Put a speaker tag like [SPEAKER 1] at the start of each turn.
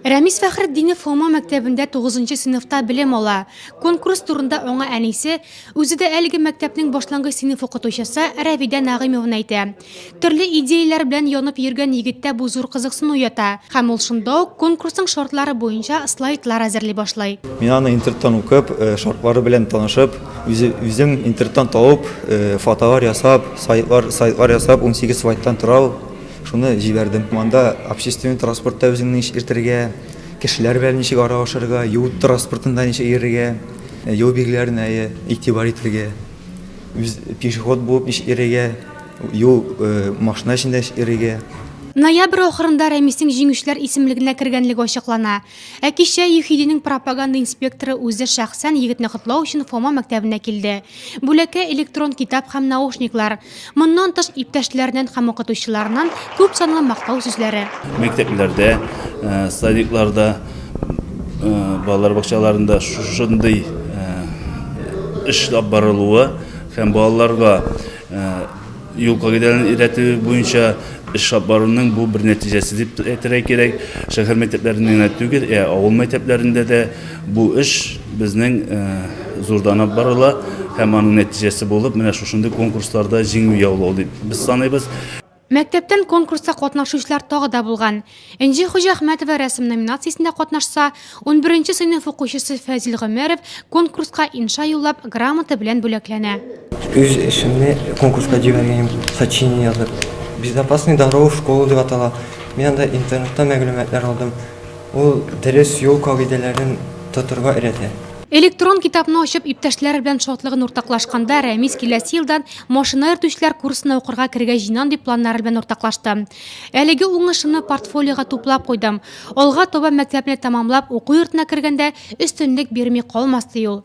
[SPEAKER 1] Рәмис Фәхретдинов Фома мәктәбендә 9 нчы сыйныфта белем ала. Конкурс турында аңа әнисе, үзе дә әлеге мәктәпнең башлангыч сыйныф укытучысы Рәвидә Нәгыймовна әйтә. Төрле идеяләр белән янып йөргән егеттә бу зур кызыксыну уята, һәм ул шунда ук конкурсның шартлары буенча слайдлар әзерли башлый. Мин аны интернеттан
[SPEAKER 2] укып, шартлары белән танышып, үзем интернеттан табып, фотолар ясап, слайдлар ясап, унсигез слайдтан тора ул. Шуны җибәрдем. Монда общественный транспортта үзеңне ничек иртергә, кешеләр белән ничек аралашырга, юл транспортында ничек йөрергә, юл билгеләренә игътибар итәргә, үз пешеход булып ничек йөрергә, юл машина эчендә ничек йөрергә. Ноябрь
[SPEAKER 1] ахырында Рәмиснең Җиңүчеләр исемлегенә кергәнлеге ачыклана. Ә кичә ЮХИДИнең пропаганда инспекторы үзе шәхсән егетне котлау өчен Фома мәктәбенә килде. Бүләккә электрон китап һәм наушниклар. Моннан тыш, иптәшләреннән һәм укытучыларыннан күп санлы мактау сүзләре. Мәктәпләрдә,
[SPEAKER 3] садикларда, балалар бакчаларында шушындый эш алып барылуы һәм балаларга Юл кагыйдәләрен өйрәтү буенча эш алып баруның бу бер нәтиҗәсе дип әйтергә кирәк. Шәһәр мәктәпләрендә генә түгел, ә авыл мәктәпләрендә дә бу эш безнең зурданып барыла һәм аның нәтиҗәсе булып менә шушындый конкурсларда җиңү яулау дип без саныйбыз. Мәктәптән
[SPEAKER 1] конкурста катнашучылар тагы да булган. Энҗе Хуҗахмәтова рәсем номинациясендә катнашса, унберенче сыйныф укучысы Фәзил Гомәров конкурска инша юллап, грамота белән бүләкләнә. Үз эшемне
[SPEAKER 4] конкурска җибәргән идем, сочинение язып. Безопасные дорогу в школу дип атала. Мин анда интернетта мәгълүматлар алдым. Ул дөрес юл кагыйдәләрен тотырга өйрәтә. Электрон китапны
[SPEAKER 1] ачып, иптәшләре белән шатлыгын уртаклашканда, Рәмис киләсе елдан машина йөртүчеләр курсына укырга керергә җыйнам дип планнары белән уртаклашты. Әлеге уңышымны портфолиога туплап куйдым. Алга таба мәктәпне тәмамлап, уку йортына кергәндә өстенлек бирми калмас, ди ул.